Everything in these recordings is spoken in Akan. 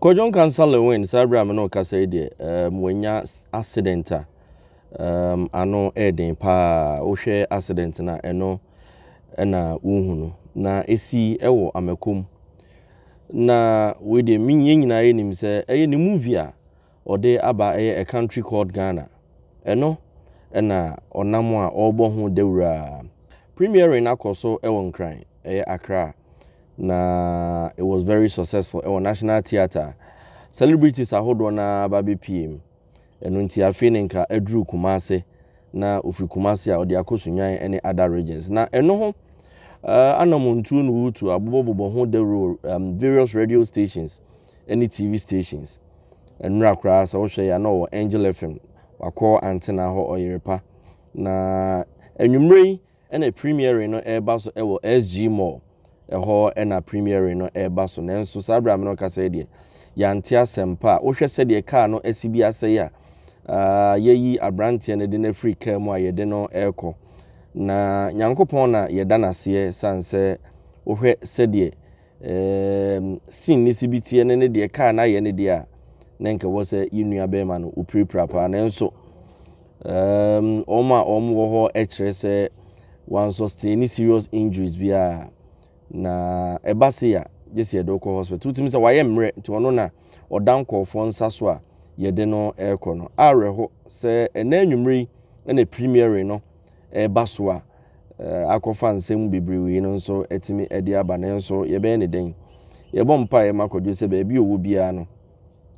Kwadwo Nkansah Lewin, saa bere a me ne wo rekasa yi deɛ, um, wanya accident a, um, ano ɛɛden paa. Wohwɛ accident no a, ɛno ɛna wohu no. Na esi ɛwɔ Amakom. Na wei deɛ, me yɛn nyinaa yɛnim sɛ ɛyɛ ne movie a Ɔde aba ɛyɛ a country called Ghana ɛno ɛna ɔnam a ɔrebɔ ho dawuraa. Premiering akɔ so ɛwɔ Nkran ɛyɛ Accra na it was very successful ɛwɔ National Theatre. Celebrities ahodoɔ no ara ba bɛpue mu. Ɛno nti afei no nka aduru Kumasi na ɔfiri Kumasi a ɔde akɔ Sunyani ɛne other regions. Na ɛno ho anamontuo na ɔretu abobɔbobɔ ho dawuro wɔ various radio stations ɛne TV stations. Ɛnora koraa sɛ wohwɛ yɛ a na ɔwɔ Angel FM, wakɔ Antena hɔ Ɔyerepa. Na anwummere yi ɛna premiering no ɛreba so ɛwɔ SG Mall. Ɛhɔ ɛna premiering no ɛreba so. Nanso saa berɛ a mene ɔkasa yi deɛ, yɛante asɛm pa a. Wohwɛ sɛdeɛ kaa no asi bi asɛe a, uh, yɛyi aberanteɛ no de no afiri kaa mu a yɛde no ɛrekɔ. Na Nyankopɔn na yɛda no aseɛ sane sɛ wohwɛ sɛdeɛ Eeemm scene ne si bi teɛ ne ne deɛ kaa no ayɛ ne deɛ a na nka ɛwɔ sɛ yɛ nua bɛrima no opirapira paa nanso eeemm wɔn a wɔn wɔ hɔ kyerɛ sɛ wɔn sustain serious injuries bi a na ɛba se a gye sɛ yɛde ɔkɔ hospital wotumi sɛ wayɛ mmerɛ nti ɔno na ɔda nkɔɔfoɔ nsa so a yɛde no ɛrekɔ no awerɛho sɛ ɛnɛ anwummere yi ɛna premiering no ɛreba so a akɔfa nsɛm mu bebrewee no nso atumi de aba. Nanso yɛbɛyɛ ne dɛn? Yɛbɔ mpaeɛ ma kwadwo sɛ baabi a ɔwɔ biara no,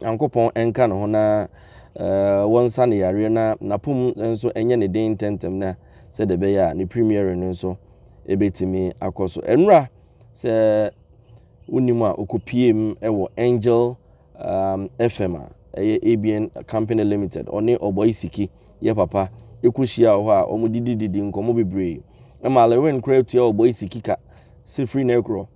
Nyankopɔn nka ne ho na wɔnsa ne yareɛ na n'apom nso nyɛ ne den ntɛntɛm na sɛdeɛ ɛbɛyɛ a ne premiere no nso ɛbɛtumi akɔ so. Ɛnora sɛ wonim a ɔkɔpiem wɔ Angel FM a ɛyɛ ABN Company Limited, ɔne Ɔbɔe Siki yɛ papa kɔhyiaa wɔ hɔ a wɔdidididii nkɔmmɔ bebree. Ɛmaa Lewin koraa tuaa Ɔbɔe Siki ka sɛ firi nnɛ rekorɔ,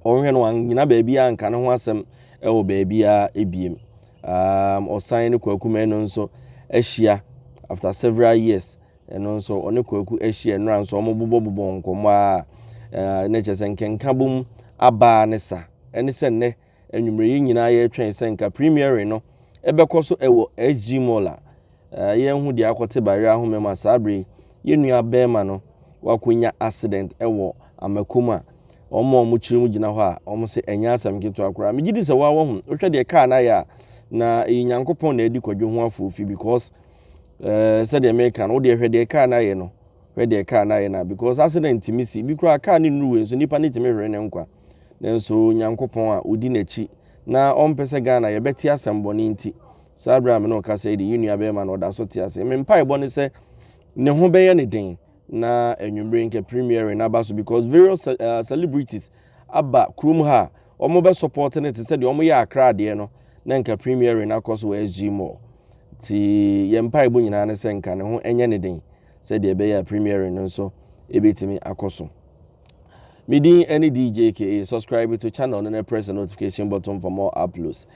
ɔnhwɛ no wannyina baabiara anka ne ho asɛm wɔ baabiara biem. Um, ɔsan ne Kwaku Manu nso ahyia after several years. Ɛno nso ɔne Kwaku ahyia nnora nso wɔbobɔbobɔ nkɔmmɔ a na kyerɛ sɛ nkɛnkabom abaa ne sa ɛne sɛ nnɛ Anwumerɛ yi nyinaa yɛretwɛn sɛ nka premiering no ɛbɛkɔ so ɛwɔ SG Mall a yɛnho deɛ akɔte Bayerɛ ahoma mu a saa berɛ yi yɛn nua bɛrima no wakɔnya accident ɛwɔ Amako mu a wɔn a wɔkyerɛ mu gyina hɔ a wɔn se ɛnyɛ asɛm ketewa koraa. Megye di sɛ waa wahu, wohwɛ deɛ kaa no ayɛ a na ɛyɛ Nyankopɔn na adi kwadwo ho afoofi because ɛɛ sɛdeɛ meka no wodeɛ hwɛ deɛ kaa no ayɛ no hwɛ deɛ kaa no ayɛ no because accident tumi si, ebi koraa kaa no nnuru wei nso nipa no tumi hwere ne nkwa. Nanso Nyankopɔn a odi n'akyi na ɔmpɛ sɛ Ghana yɛbɛte asɛm bɔne nti, saa bere a me ne wo kasa yi de, yɛn nua barima no ɔda so te ase. Me mpaebɔ ne sɛ ne ho bɛyɛ ne den na anwummere nka premiering no aba so because various ce- uh, celebrities aba kurom ha a wɔn bɛ support no te sɛ deɛ wɔn yɛ akra adeɛ no na nka premiering no akɔ so wɔ SG Mall. Nti yɛn mpaebɔ nyinaa ne sɛ nka ne ho nyɛ ne den sɛdeɛ ɛbɛyɛ a premiering no nso ɛbɛtumi akɔ so. Me din ne DJ KA. Subscribe to channel no na press the notification button for more uploads.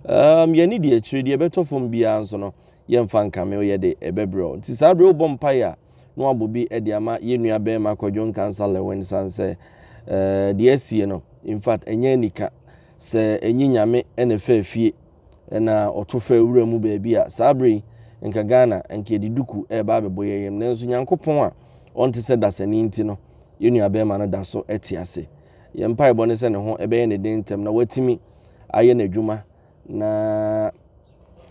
Um, yɛne deɛ akyire deɛ ɛbɛtɔ fam biara nso no yɛmfa nkame woyɛ de ɛbɛbrɛ nti saa berɛ wobɔ mpaeɛ a na wabɔ bi de ama yɛnnua bɛrima kwadwo nkansa lɛwɛn san sɛ eh, deɛ asie no in fact ɛnyɛ anika sɛ ɛnyi nyame ɛna ɛfɛ fie na ɔto faa wura mu baabi a, saa berɛ yi, nka Ghana, nka yɛde duku reba abɛbɔ yɛn yam. Nanso Nyankopɔn a ɔnte sɛ dasani nti no, yɛn nuabarima no da so te ase. Yɛn mpaebɔ ne sɛ ne ho bɛyɛ ne den ntɛm na watumi ayɛ n'adwuma na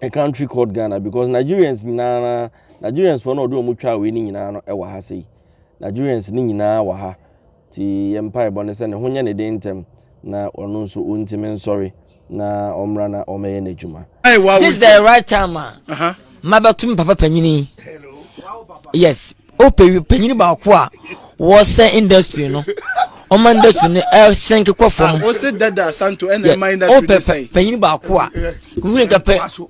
a country called Ghana because Nigerians nyinaa no Nigerians foɔ no a ɔde wɔn twaa wei no nyinaa no wɔ ha sei. Nigerians no nyinaa wɔ ha. Nti yɛn mpaebɔ ne sɛ ne ho nyɛ ne den ntɛm na ɔno nso ɔntumi nsɔre na ɔmmra na ɔmmɛyɛ n'adwuma. This the right time a mabɛto me papa panyini yes wopɛ oh, panyini baako a wɔsɛ industry no ɔma industry no ɛsɛnke eh, kɔ fam ah, wopɛ panyini baako a wone ka pɛ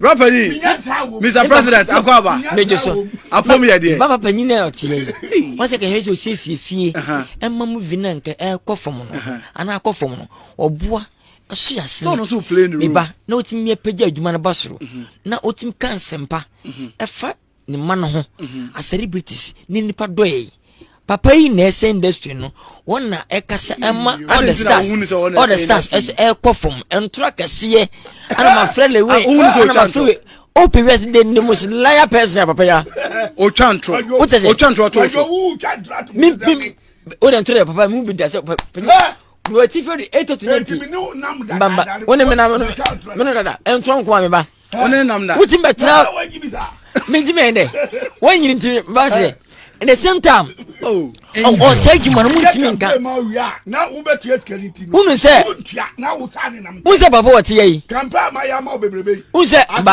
Rapper yi, Mr. President Akwaba. Mɛgye so. Apom yɛ deɛ. Baba panyin a ɔte yɛ yi. Wɔn sɛ kɛhɛ sɛ osiesie fie. Ɛma mu vi na nkɛ ɛkɔ fam no. Ana akɔ fam no. Ɔboa ɛso yɛ asene. Tɔn nso play ne room. Eba na otimi apagya adwuma no ba soro. Na otimi ka nsɛmpa. Ɛfa ne mma no ho mhm. as celebrities ne nipa dɔ yɛ papa yi na ɛsɛ industry no wɔn na ɛkasa ɛma all the stars all the stars ɛsɛ ɛkɔ fam ntura kɛseɛ ɛna ma fɛ lewe ah, ɛna ma fɛ we open west de ne mo si liar person papa ya. o twa ntoro o tɛ sɛ o twa ntoro to so mi mi o de ntoro yɛ papa mi bi da sɛ papa wɔ ti fɛ de eight to ninety mbamba wɔn na mi na mi no dada ɛntoro nko a mi ba. wotumi bɛtena menti mɛn dɛ woanyini nti base in the same time ɔsɛ adwuma no montumi nka wonu sɛ wonu sɛ papa wɔteyɛ yi wonu sɛ wonu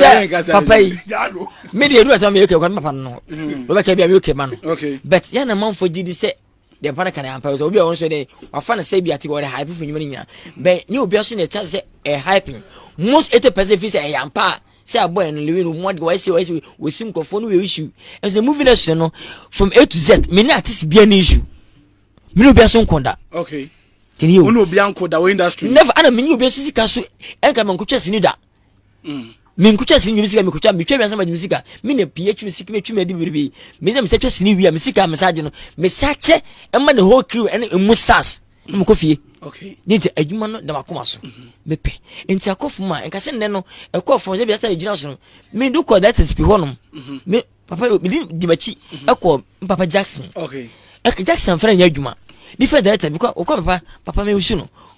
sɛ papa yi medeɛ ɛdu asɛm meyɛ kɛ kwan papa no no wobɛka bia meyɛ kɛ ma no but yɛna manfoɔ gye di sɛ deɛ mpa no ka no ampa sɛ obi a ɔno nso dɛ wafa no sɛ bi ate ɔde hype fo nnwuma no nyinaa bɛn ne obi aso na ɛkyɛ sɛ ɛhype most eighty percent fi sɛ ɛyɛ ampa a sɛ abɔ ɛno lewi no mmoa de wɔasi wɔasi wɔsi nkurɔfoɔ no wɔ issue ɛnso na movie no so no from a to z me ne artist bia ne issue me ne obi aso nko da okay tini o ne obi anko da wɔ industry never ana me ne obi aso sika so ɛnka me nkotwa sini da Mm. menkutwa sini dwom sika mekutwa metwa wiase ma dwom sika me na pii atwi me sika metwi me adi biribi me na mesɛ twa sini wia me sika me saagye no me sa kyɛ ɛma the whole crew ɛne emu stars na mekɔ fie okay ne nti adwuma no da makoma so mhm. mepɛ nti akɔfo mu a nka sɛ nnɛ no ɛkɔɔ fam sɛ biasa ɛgyina so no me do kɔ that is pi hɔ nom mhm. me papa mede di m'akyi mhm. ɛkɔ papa jackson okay ɛkɛ jackson fɛrɛ nyɛ adwuma different director bi kɔ ɔkɔ papa papa me wusu no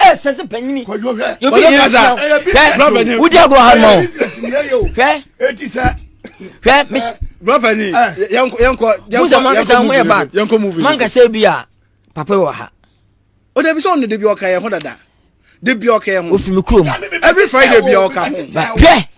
ɛ fɛ se panyini yobi yɛ nsia hwɛ wodi agorɔ ha ma o hwɛ hwɛ mis brɔfani yɛnkɔ yɛnkɔ yɛnkɔ mankasa ho yɛ bad yɛnkɔ movie mankasa bi a papa wɔ ha o de bi sɛ ɔno de bi ɔka yɛ ho dada de bi ɔka yɛ ho ofi mi kurom every friday bi ɔka ho hwɛ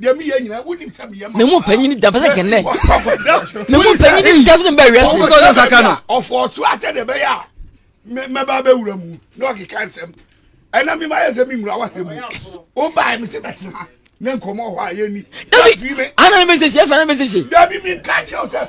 deɛ meyɛ nyina wonim sɛ meyɛ me mu panyini da pɛsɛ kɛnnɛ me mu panyini da pɛsɛ bɛ wiase ɔtɔ saka no ɔfɔ ɔto asɛ de bɛyɛ a mɛba bɛwura mu na ɔkeka nsɛm ɛna mema yɛ sɛ memmura wasɛ mu wobae me sɛ bɛtena ne nkɔmmɔ hɔ a yɛni dabi ana ne bɛsɛsi ɛfa ne bɛsɛsi dabi meka kyɛw sɛ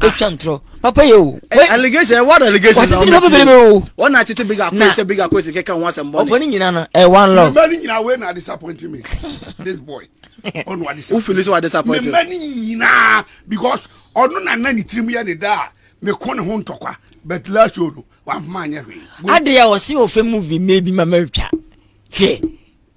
etwa ntorɔ papa yɛ o. Eh, allegation eh, what allegation na ɔmo pii o wɔn na tete big akɔ ɛsɛ big akɔ ɛsɛ kɛkɛ wɔn asɛm bɔ ne. ɔpɔ ne nyina no ɛ one love. mɛ ni nyina wei na disappoint me this boy ɔno wa disappoint. wofin ni sɛ wa disappoint. mɛ ni nyina because ɔno na na ne tirim yɛ ne daa me ko ne ho ntɔkwa but last show no wa ma nyɛ hwee. adeɛ a ɔsi wɔ fɛ movie mɛ bi ma mɛ twa hwɛ.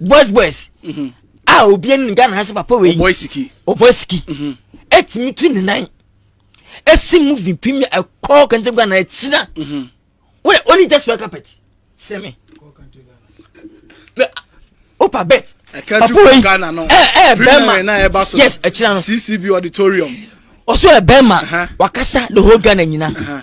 boys boys mhm. a obi anim ghana ha sɛ papa wei ɔbɔ siki ɛtumi tu ne nan ɛsi movie pim ɛkɔ kɛntɛm ghana ɛkyina wọ́n only just wear carpet sẹ́ mi opa bet papa wei ẹ ẹ bẹẹma yes ẹkyina no ccb auditorium ọsọ ẹ bẹẹma wakasa the whole ghana nyina. Uh -huh.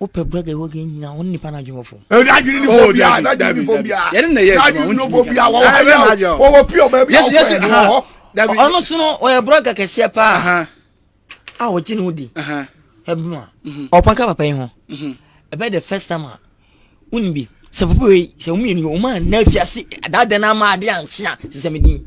wopɛ brɛgɛ wɔ gɛ nyina wo nipa no adwene wɔ fam adwene ne fo bia adwene ne fo bia yɛne na yɛ adwuma ne fo bia wɔwɔ ha yɛ wɔwɔ pure ɔbɛ bi awɔ fɛ no wɔ hɔ ɔno so no ɔyɛ brɛgɛ kɛseɛ paa a wɔgye ne ho di ɛbɛm a ɔpɔn ka papa yi ho ɛbɛ the first time a wonim bi sɛ papa wei sɛ wɔmmienu wɔma na afiase adaadan no ama ade ankyea sesɛ medin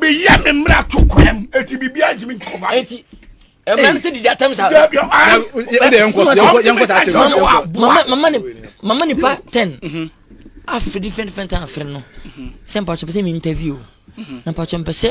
meyɛ me mmara to kwan mu ɛti biribiaa ntimi nkɔba mmerɛ sɛ didi atam saa mama nipa ten afiri fɛnfɛn tan afiri no sɛ mpakyɛ pɛ sɛ me interview na mpakyɛ mpɛ sɛ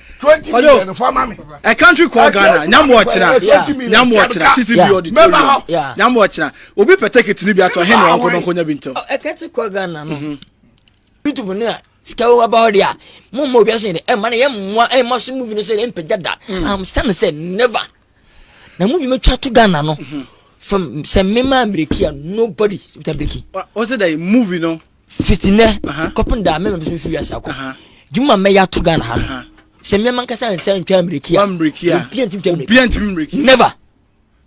twenty million no fa ma mi. a country called ghana nyamuɔkyena nyamuɔkyena sisi bi auditorium nyamuɔkyena obi pɛtɛkɛ tini bi ato ɛhɛn na ɔnkɔ n'ɔnkɔ nya bi ntɛm. a country called ghana no mhm. youtube ni a sika wo aba hɔ de a mo mma obi ahyɛn de ɛma no yɛ mmoa ɛma so movie no sɛ ne mpagya da mhm. am stand sɛ never na movie mi twa to ghana no mhm. from sɛ mmema amiriki a nobody ta biriki. ɔsɛ dɛ movie no. Fiti nɛ kɔpem da mɛma bɛsɛ mfiri wiase akɔ dwuma mɛyɛ ato Ghana ha no sɛ mmɛma nkasa nsa ntwa mmiriki a obia ntimi twa mmiriki never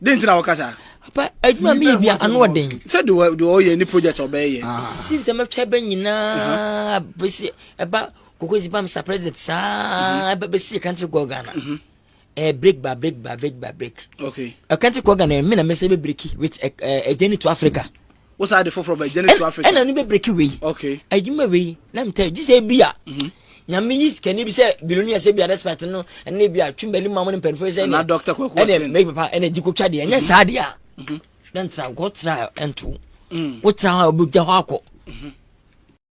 den nti na wɔka saa papa adwuma meyɛ bia ano ɔden sɛ de ɔyɛ ne project ɔbɛyɛ ah. sim sɛ mɛtwa bɛ nyinaa bɛsi ɛba kokosi bam sa president saa ɛbɛsi country go Ghana mhm. ɛɛ eh, break ba break ba break ba break. okay ɛka ti kɔ ghana yɛ mi na mɛsɛ bɛ break with ɛ ɛ ɛjɛni to africa. wosan de foforɔ bɛ ɛjɛni to africa. ɛna ni bɛ break wei. okay ɛdwuma wei na mi tɛ jisɛ ebi a. Mhm. nyame yi sikani bi sɛ biloni ɛsɛ bi a respect no ɛna bi a twum bɛ ni maamu ni mpanyinfoɔ sɛ ɛna dɔkita kɔ ɛkɔ ɛna mɛ papa ɛna jiko twa deɛ ɛnyɛ mhm. saa deɛ a. Mhm. na ntra nkɔ tra ɛnto. wotra hɔ a wobɛgya hɔ akɔ